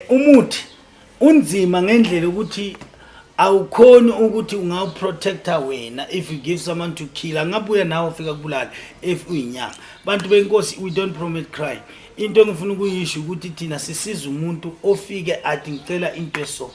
umuthi unzima ngendlela ukuthi awukhoni ukuthi ungawuprotecta wena if you give someone to kill angabuya nawe ufika kubulala if uyinyanga bantu benkosi we don't promote crime into engifuna ukuyisho ukuthi thina sisiza umuntu ofike athi ngicela into esoko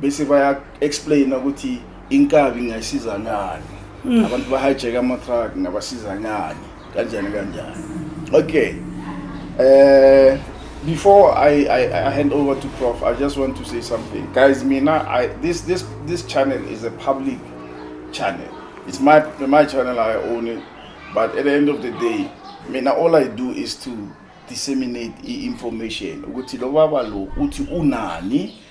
bese baya explain ukuthi inkabi ngayisiza ngani mm. abantu bahijack ama truck ngabasiza ngani kanjani kanjani okay eh before I, I, I hand over to Prof, I just want to say something, guys. Mina, I this this this channel is a public channel. It's my my channel. I own it, but at the end of the day, Mina, all I do is to disseminate information. Ukuthi lo baba lo uthi unani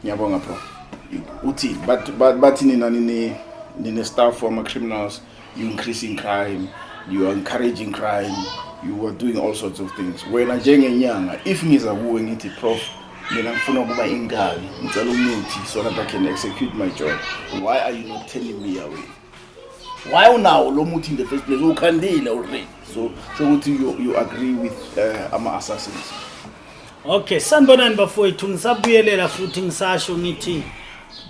ngiyabonga bro uthini bathi but, nina nini nine staff for ama-criminals you increasing crime you are encouraging crime you are doing all sorts of things wena njengenyanga if ngiza kuwe ngithi prof mina ngifuna ukuba inkabi ngicela umuthi so that i can execute my job why are you not telling me away why unawo lo muthi in the first place ukhandile already so sho ukuthi you, you agree with uh, ama-assassins okay sanibonani bafowethu ngisabuyelela futhi ngisasho ngithi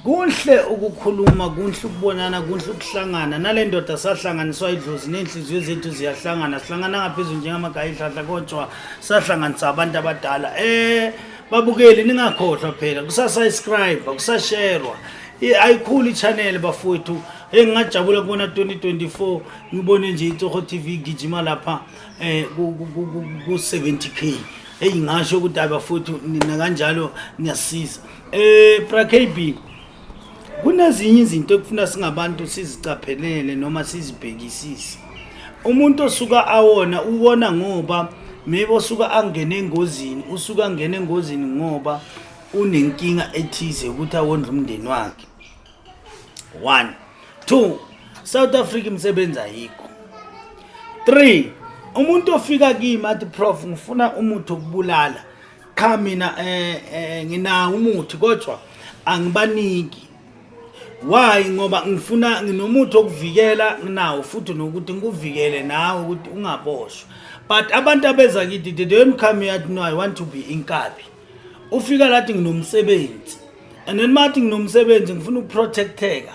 kunhle ukukhuluma kunhle ukubonana kunhle ukuhlangana nale ndoda sahlanganiswa idlozi ney'nhliziyo zethu ziyahlangana sihlangana ngaphezulu njengamagaya ihlahla kodwa sahlanganisa abantu abadala um babukeli ningakhohlwa phela kusasayiscribe kusasherwa ayikhulu i-channel bafowethu eyi ngingajabula kubona 2024 ngibone nje itsoho tv igijima lapha um ku-70 k eyi ngasho ukuthi hayi bafowethu nina kanjalo niyasiza um eh, prakb kunezinye izinto ekufuna singabantu sizicaphelele noma sizibhekisise umuntu osuka awona uwona ngoba maybe osuka angene engozini usuka angene engozini ngoba unenkinga ethize ukuthi awondla umndeni wakhe one two south africa imisebenzi ayikho three umuntu ofika kimi athi prof ngifuna umuthi okubulala cha mina eh, eh nginawo umuthi kodwa angibaniki why ngoba ngifuna nginomuthi okuvikela nginawo futhi nokuthi ngikuvikele nawe ukuthi ungaboshwa but abantu abeza kithi they don't come here to know i want to be inkabi ufika lathi nginomsebenzi and then mathi nginomsebenzi ngifuna ukuprotecteka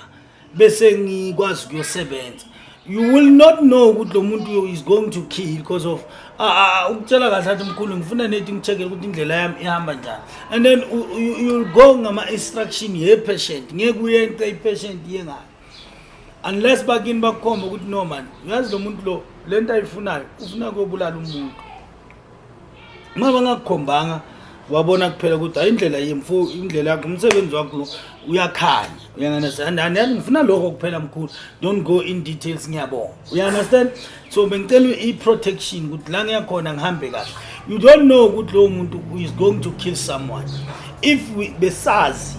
bese ngikwazi ukuyosebenza you will not know ukuthi lo muntu is going to kill because of ah, ah, ah, ukutshela kahle athi mkhulu ngifuna nethi ngicheckele ukuthi indlela yami ihamba njani and then you'll go ngama-instruction ye-patient ngeke uyente i-patient iye ngayo unless bakini bakukhomba ukuthi no mani uyazi lo muntu lo le nto ayifunayo ufuna kuyobulala umuntu uma bangakukhombanga wabona kuphela ukuthi hayi indlela yemfo indlela yakho umsebenzi wakho lo uyakhanya uyanganasand andani ngifuna lokho kuphela mkhulu don't go in details ngiyabonga uyangastand so bengicela i-protection ukuthi la ngiyakhona ngihambe kahle you don't know ukuthi lowo muntu is going to kill someone if we, besazi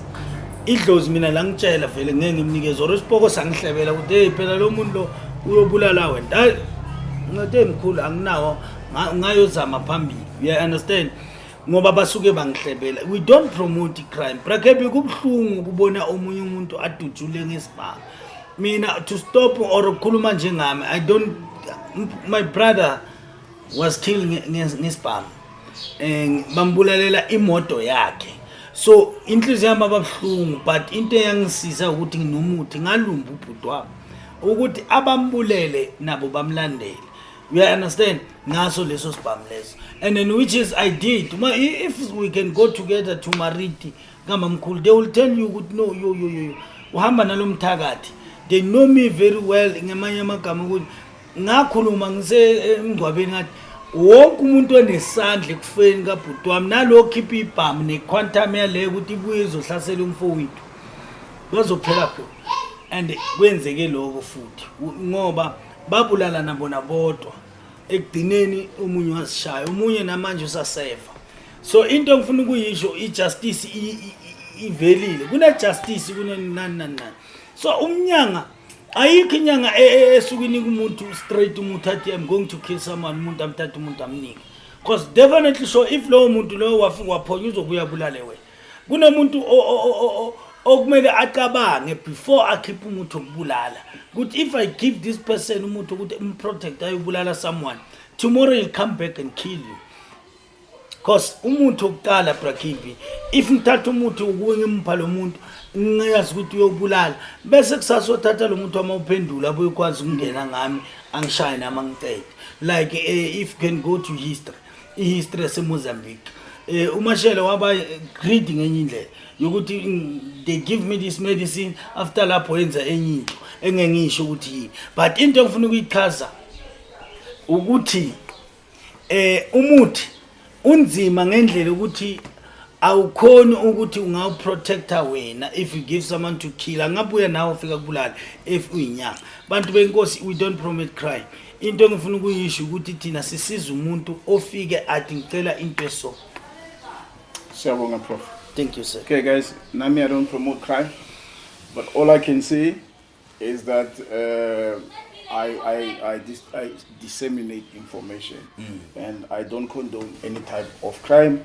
idlozi mina la ngitshela vele ngeke ngimnikeze or isipoko sangihlebela ukuthi hey phela lo muntu lo uyobulala wena ngathi mkhulu anginawo ngayozama phambili you understand ngoba basuke bangihlebela we don't promote crime brakebe kubuhlungu ukubona omunye umuntu adutshule ngesibanga mina to stop or ukukhuluma njengami i don't my brother was killed ngesibhamu um bambulalela imoto yakhe so inhliziyo yami ababuhlungu but into eyangisiza ukuthi nginomuthi ngalumba ubhuti wami ukuthi abambulele nabo bamlandele You understand? Ngaso leso sibhamu leso. And then which is I did. Ma, i- if we can go together to Mariti, kamamkhulu, they will tell you ukuthi no, yo, yo, yo, yo. Uhamba nalo mthakathi. They know me very well ngamanye amagama ukuthi ngakhuluma ngise emngcwabeni ngathi wonke umuntu onesandla ekufeni kabhuti wami nalo khipha ibhamu ne-quantum yaleyo ukuthi ibuye izohlasela umfowethu bazophela khona and kwenzeke lokho futhi U- ngoba babulalana bona bodwa ekugcineni umunye wazishaya umunye namanje usasefa so into engifuna ukuyisho ijustice ivelile kunejustice kunani nani nani so umnyanga ayikho inyanga e, e, esuke inika umuntu straight umuntu athi i'm going to kill someone umuntu amthatha umuntu amnike because definitely sure if lowo muntu lowo wafika waphonywa uzobuya bulale wena kunomuntu okumele acabange before akhiphe umuthi wokubulala ukuthi if i give this person umuthi ukuthi umprotect ayobulala someone tomorrow he'll come back and kill you cause umuthi wokuqala brakimbi if ngithatha umuthi ukuwe ngimpha lo muntu ngiyazi ukuthi uyobulala bese kusasa othatha lo muntu wama uphendula abuye ukwazi ukungena ngami angishaye nami angiqede like uh, if you can go to history ihistory yasemozambique eh umashele waba greedy ngenye indlela yokuthi mm, they give me this medicine after lapho yenza enye into engengisho ukuthi yini but into engifuna ukuyichaza ukuthi eh umuthi unzima ngendlela ukuthi awukhoni ukuthi ungawuprotecta wena if you give someone to kill angabuya nawe ufika kubulala if uyinyanga bantu benkosi we don't promote crime into engifuna ukuyisho ukuthi thina sisiza umuntu ofike athi ngicela into eso siyabonga prof thank you sir okay guys nami i don't promote crime but all i can say is that uh, I, I, I, dis I disseminate information mm. and I don't condone any type of crime.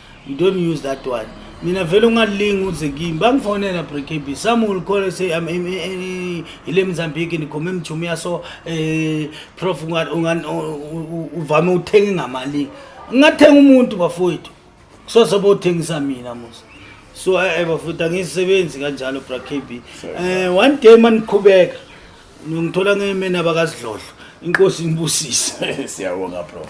you don't use that one mina vele ungalingi uze kimi bangifonela brekb some will call and say i'm in, in, in, ile mzambiki ndikhome emjumi yaso eh prof uvame uthenga ngamali ngathenga umuntu bafowethu kusoze bothengisa mina musa so eh bafowethu angisebenzi kanjalo brekb eh one day maniqhubeka ngithola ngemena bakasidlodlo inkosi inibusise siyabonga prof